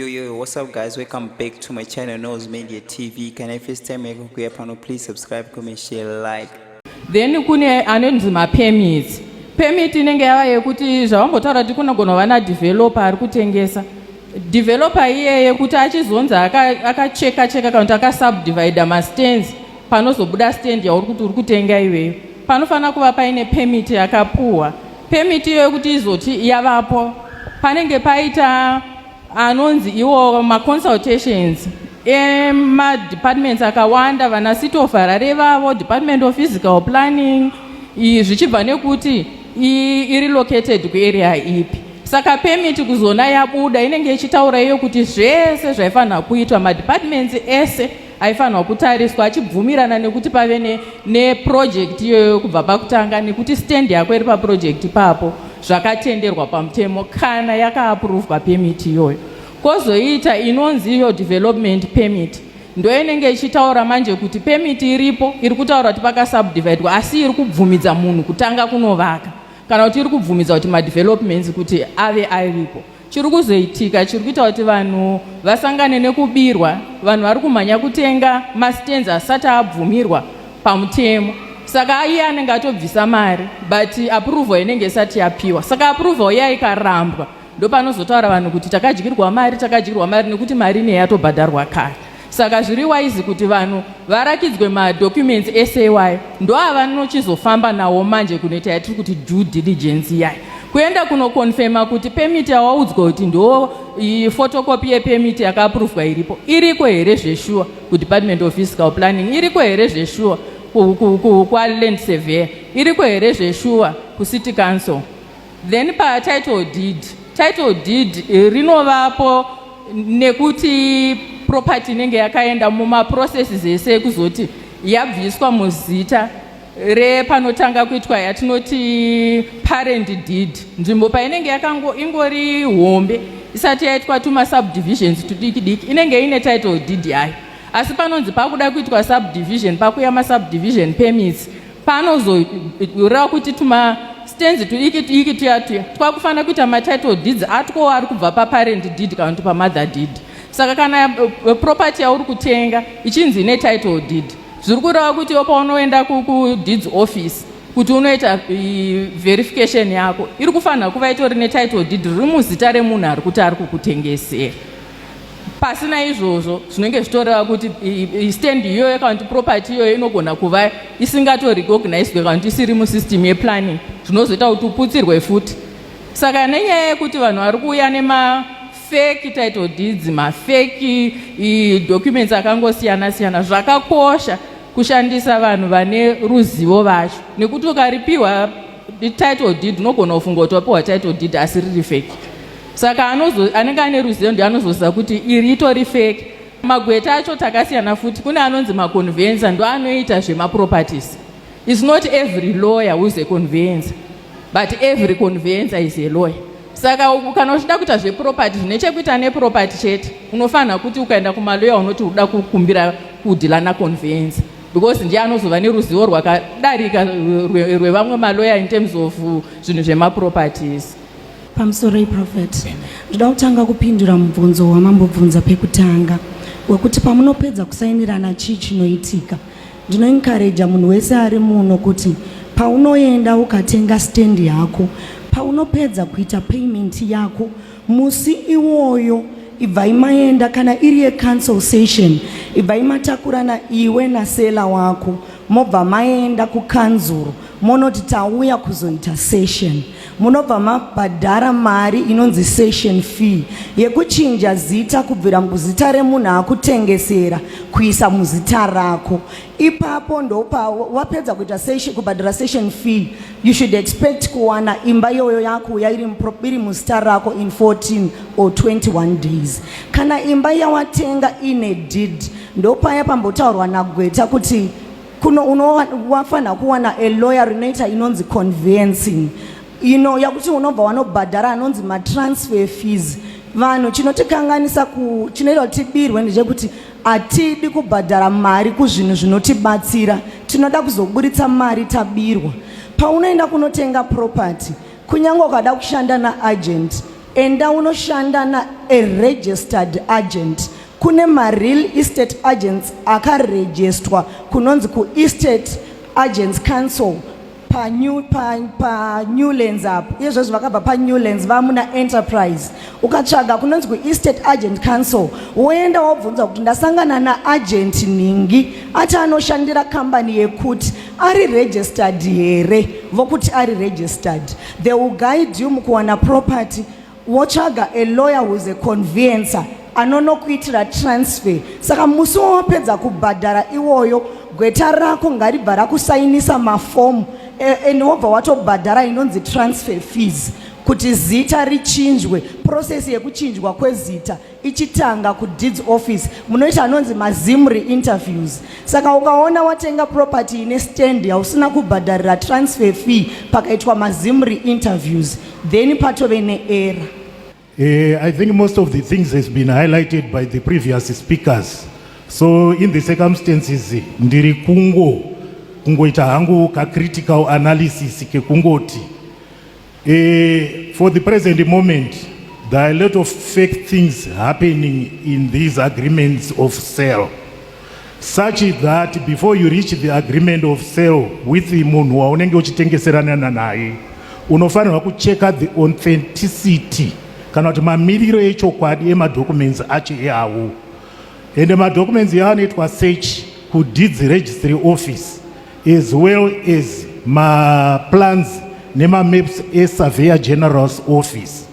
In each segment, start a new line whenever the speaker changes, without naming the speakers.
Yo yo yo, what's up guys? Welcome back to my channel Nose Media TV. Can I first time make kuya pano please subscribe, comment, share, like. Then kune
anonzi ma permits. Permit inenge yava yekuti zvavambotaura kuti kunogona kuva na developer ari kutengesa. Developer iyeye kuti achizonzi akacheka cheka kana kuti akasubdivide mastands panozobuda stand yauri kuti uri kutenga iweyo panofanira kuva paine permit yakapuhwa permit iyoyo kuti izoti yavapo panenge paita anonzi iwo maconsultations emadepartments akawanda vana city of harare vavo department of physical planning zvichibva nekuti iri located kuarea ipi saka pemiti kuzona yabuda inenge ichitaura iyo kuti zvese zvaifanira kuitwa madepartments ese aifanirwa kutariswa achibvumirana nekuti pave neprojekti iyoyo kubva pakutanga nekuti stendi yako iri paprojekti ipapo zvakatenderwa pamutemo kana yakaapuruvwa pemiti iyoyo kwozoita inonzi iyo development permit ndoinenge ichitaura manje kuti pemiti iripo iri kutaura kuti pakasubdividwa asi iri kubvumidza munhu kutanga kunovaka kana kuti iri kubvumidza kuti madevelopments kuti ave aripo Chiri kuzoitika chiri kuita kuti vanhu vasangane nekubirwa, vanhu vari kumhanya kutenga mastands asati abvumirwa pamutemo. Saka iye anenge atobvisa mari but approval inenge isati yapiwa. Saka approval iya ikarambwa ndopanozotaura vanhu kuti takadyirwa mari, takadyirwa mari nekuti mari inenge yatobhadharwa kare. Saka zviri wise kuti vanhu varakidzwe madocuments ese iwayo ndoavanochizofamba nawo manje kunoita yatiri kuti due diligence yayo kuenda kunokonfema kuti pemiti yawaudzwa kuti ndo photocopy yepemiti yakaapuruvwa iripo iriko here zveshuwa kudepartment of physical planning iriko here zveshuwa kwaland surveyor iriko here zveshuwa kucity council Then pa title deed, title deed eh, rinovapo nekuti property inenge yakaenda muma processes ese kuzoti yabviswa muzita repanotanga kuitwa yatinoti parent deed nzvimbo painenge yakango ingori hombe isati yaitwa tuma subdivisions tudiki diki inenge ine title deed yayo asi panonzi pakuda kuitwa subdivision pakuya masubdivision permits paanozoreva kuti tuma stenzi tuiki tuiki tuya tuya twakufanira kuita matitle deeds atwo ari kubva paparent deed kana kuti pamother deed saka kana eh, eh, property yauri kutenga ichinzi ine title deed zviri kureva kuti yo paunoenda kudeeds office kuti unoita eh, verification yako iri kufanira kuva itori netitle deed riri muzita remunhu ari kuti ari kukutengesera pasina izvozvo zvinenge zvitoreva kuti stand iyoyo kana kuti property iyoyo inogona kuva isingatorecognizwe kana kuti isiri musystem yeplanning zvinozoita kuti uputsirwe futi saka nenyaya yekuti vanhu vari kuuya nema feki title deeds mafeki documents akangosiyana siyana zvakakosha kushandisa vanhu vane ruzivo vacho nekuti ukaripiwa title deed unogona kufunga kuti wapiwa title deed asi riri feki saka anozo, anenge ane ruzivo ndi anozoziva kuti iri itori fake magweta acho takasiyana futi kune anonzi maconvenza ndo anoita zvemaproperties is not every lawyer who's a convenza but every convenza is a lawyer saka kana uchida kuita zveproperty zvine chekuita neproperty chete unofanira kuti ukaenda kumaloya unoti uda kukumbira kudhila naconvenza because ndiye anozova neruzivo rwakadarika rwevamwe maloya in terms of zvinhu zvemaproperties Pamusoroi
Prophet. Ndoda kutanga kupindura mubvunzo wamambobvunza pekutanga wekuti pamunopedza kusainirana chii chinoitika. Ndinoencouraja munhu wese ari muno kuti paunoenda ukatenga stand yako, paunopedza kuita payment yako, musi iwoyo ibvai maenda kana iri yecancel session ibvai matakurana iwe nasela wako mobva maenda kukanzuru monoti tauya kuzoita session munobva mabhadhara mari inonzi session fee yekuchinja zita kubvira muzita remunhu akutengesera kuisa muzita rako ipapo ndopa wapedza kuita session kubhadhara session fee you should expect kuwana imba iyoyo yakuuya iri muzita rako in 14 or 21 days kana imba yawatenga ine deed ndopaya pambotaurwa nagweta kuti kuno unowafanira kuwana a lawyer rinoita inonzi convencing ino yakuti unobva wanobhadhara anonzi matransfer fees vanhu chinotikanganisa ku chinoita kuti tibirwe ndechekuti hatidi kubhadhara mari kuzvinhu zvinotibatsira tinoda kuzoburitsa mari tabirwa paunoenda kunotenga property kunyange ukada kushanda naagent Enda unoshanda na a registered agent kune ma real estate agents akarejestwa kunonzi ku estate agents council pa new, pa, pa new lens apo izvezvi vakabva pa new lens vamuna enterprise ukatsvaga kunonzi ku estate agent council woenda wobvunza kuti ndasangana na agent nhingi ati anoshandira kambani yekuti ari registered here vokuti ari registered They will guide you mukuwana property wotsvaga a lawyer who's a conveyancer anonokuitira transfer saka musi wawapedza kubhadhara iwoyo gweta rako ngaribva rakusainisa mafomu and wobva watobhadhara inonzi transfer fees kuti zita richinjwe process yekuchinjwa kwezita ichitanga kudeeds office munoita anonzi mazim reinterviews saka ukaona watenga property ine stand hausina kubhadharira transfer fee pakaitwa mazim reinterviews then patove neera uh, eh,
i think most of the things has been highlighted by the previous speakers so in the circumstances ndiri kungo kungoita hangu kacritical analysis kekungoti Uh, for the present moment, there are a lot of fake things happening in these agreements of sale, such that before you reach the agreement of sale with the munhu waunenge uchitengeseranana naye unofanirwa kucheka the authenticity kana kuti mamiriro echokwadi emadocuments acho eawo ende madocuments yaanoitwa search kudeeds registry office as well as maplans nemamaps esurveyor general's office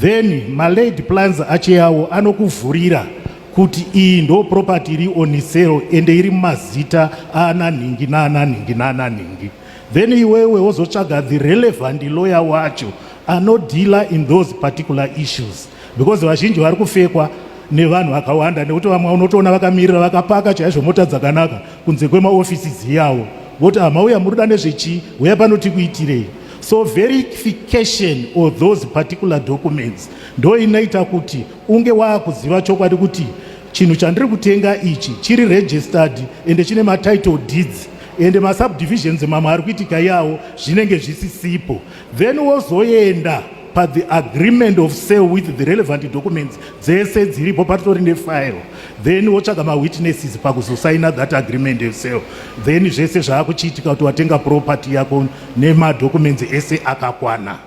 then malaid plans acheyawo anokuvhurira kuti iyi ndo property iri on sale ende iri mumazita aananhingi naananhingi naananhingi then iwewe wozotsvaga the relevant lawyer wacho anodhila in those particular issues because vazhinji vari kufekwa nevanhu vakawanda nekuti vamwe unotoona vakamirira vakapaka chaizvo mota dzakanaka kunze kwemaofisi dziyawo voti hamauya muruda nezvechii huya pano tikuitirei so verification of those particular documents ndo inoita kuti unge waakuziva chokwadi kuti chinhu chandiri kutenga ichi chiri registered ende chine matitle deeds ende masubdivisions mamwe ari kuitika yawo zvinenge zvisisipo then wozoenda pathe agreement of sale with the relevant documents dzese dziripo patori nefile then wotsvaga mawitnesses pakuzosaina that agreement of sale then zvese zvaakuchiitika kuti watenga property yako nemadocuments ese akakwana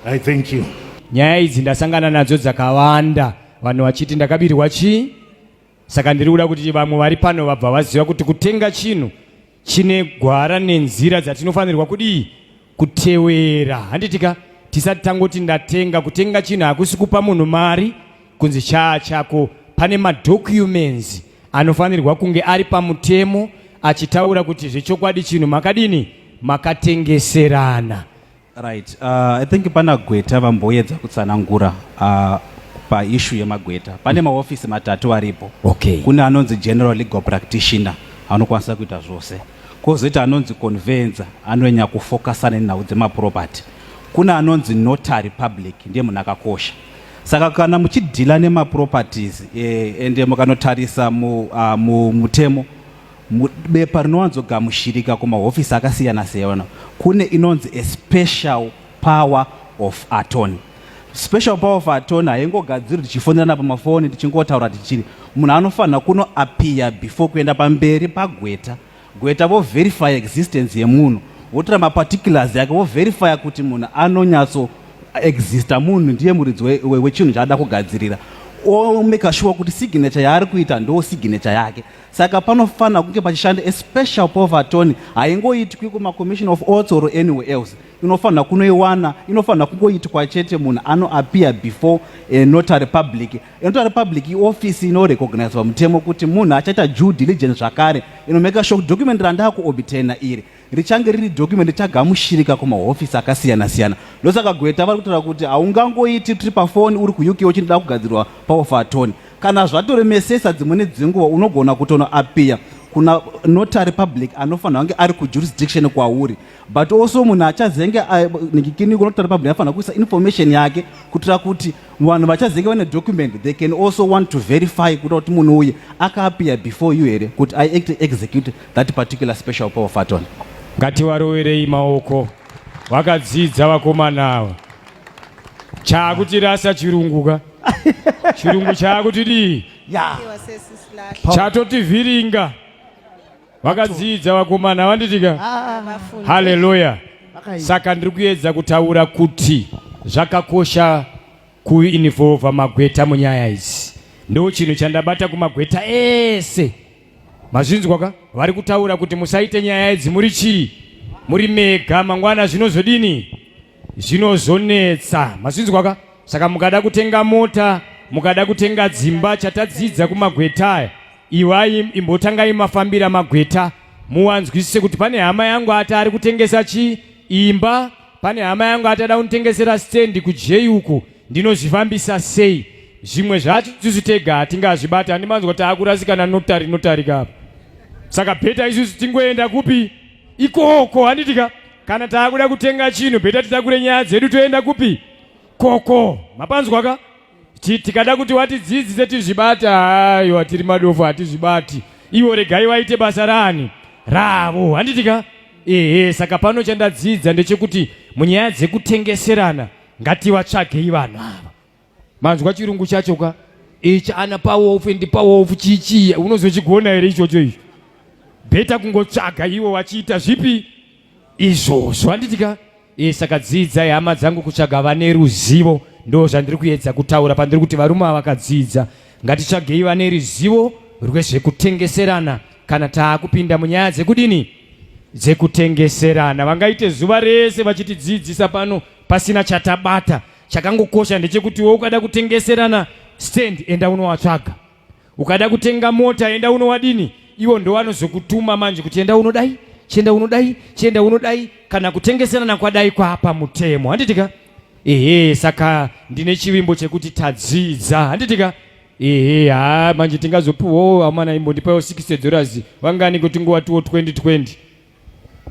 i thank you nyaya idzi ndasangana
nadzo dzakawanda vanhu vachiti ndakabirwa chii saka ndiri kuda kuti vamwe vari pano vabva vaziva kuti kutenga chinhu chine gwara nenzira dzatinofanirwa kudii kutewera handitika tisati tangoti ndatenga kutenga chinhu hakusi kupa munhu mari kunzi chaa chako pane madocuments anofanirwa kunge ari pamutemo achitaura kuti zvechokwadi chinhu makadini makatengeserana Right.
Uh, I think pana gweta vamboyedza kutsanangura uh, paishu yemagweta pane mahofisi matatu aripo okay. kune anonzi
general
legal practitioner anokwanisa kuita zvose kozoita anonzi convenza anonyanya kufokasa nenhau dzemaproperty kune anonzi notary public ndiye munhu akakosha saka kana muchidhila nemaproperties eh, ende mukanotarisa mutemo mu, uh, mu, Bepa rinowanzogamushirika kumahofisi akasiyana siyana kune inonzi a special power of attorney. Special power of attorney haingogadziri tichifonerana pamafoni tichingotaura tichiri munhu anofanira kuno appear before kuenda pamberi pagweta gweta vo verify existence yemunhu votora maparticulars yake vo verify kuti munhu anonyatso exista munhu ndiye muridzi wechinhu chaada kugadzirira omaker sure kuti signature yaari kuita ndo signature yake Saka panofanira kunge pachishanda a special power of attorney haingoitwi kumacommission of oats or anywhere else inofanira kunoiwana inofanira kungoitwa chete munhu anoappear before a eh, notary public a notary public iofisi inorecognizwa mutemo kuti munhu achaita due diligence zvakare inomeka sure document randaakuobtaina iri richange riri document richagamushirika kumahofisi akasiyana siyana ndosaka gweta vari kutaura kuti haungangoiti tiri pafoni uri kuuk uchindoda kugadzirwa power for attorney kana zvatoremesesa dzimweni dzenguva unogona kutonoapiya kuna notary public anofanira kunge ari kujurisdiction kwauri but also munhu achazenge eh, nikikini kunotary public anofanira kuisa information yake kuitira kuti vanhu vachazenge vane document they can also want to verify kuita kuti munhu uye akaapiya before you here kuti i act execute that particular special power faton ngatiwaroverei
maoko vakadzidza vakomana ava chaakutirasa chirungu ka chirungu chaakutidii yeah. chatotivhiringa vakadzidza vakomana vanditika ah. haleluya saka ndiri kuedza kutaura kuti zvakakosha kuinvolva magweta munyaya idzi ndo chinhu chandabata kumagweta ese Mazvinzwa ka? Vari kutaura kuti musaite nyaya idzi muri chii? Muri mega mangwana zvinozodini? Zvinozonetsa. Mazvinzwa ka? Saka mukada kutenga mota, mukada kutenga dzimba chatadzidza kumagweta aya. Iwai imbotangai mafambira magweta muwanzwisise kuti pane hama yangu ati ari kutengesa chii? Imba Pane hama yangu atada kunitengesera stand kujei uku ndinozvifambisa sei zvimwe zvacho isusu tega hatingazvibati handimanzwa kuti akurasikana notari notarika apa saka bheta isusu tingoenda kupi ikoko handitika kana taakuda kutenga chinhu bheta titakure nyaya dzedu toenda kupi koko mapanzwaka tikada kuti watidzidzise tizvibate aiwa tiri madofo hatizvibati ivo regai vaite basa rani ravo handitika ehe saka pano chandadzidza ndechekuti munyaya dzekutengeserana ngativatsvagei vanhu ava manzwa chirungu chacho ka ichi ana pawofu ndi pawofu chichiya unozochigona here ichocho icho bheta kungotsvaga ivo vachiita zvipi izvozvo handitika e saka dzidzai hama dzangu kutsvaga vane ruzivo ndo zvandiri kuedza kutaura pandiri kuti varume avakadzidza ngatitsvagei vane ruzivo rwezvekutengeserana kana taakupinda munyaya dzekudini dzekutengeserana vangaite zuva rese vachitidzidzisa pano pasina chatabata chakangokosha ndechekuti wo ukada kutengeserana stand enda unowatsvaga ukada kutenga mota enda unowadini iwo ndowanozokutuma manje kuti enda unodai chienda unodai chienda unodai kana kutengeserana kwadai kwaapa mutemo handitika ehe saka ndine chivimbo chekuti tadzidza handitika ehe ha manje tingazopiwawo amana imbondipayo 60 dollars vangani kuti nguva tiwo 2020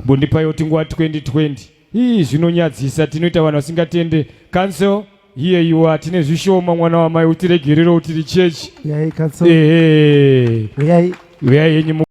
mbondipayo tinguva 2020 Hii zvinonyadzisa tinoita vanhu vasingatende council here you are tine zvishoma mwana wamai utiregerero utiri church. Uyai council. Ehe. Uyai. Uyai henyu.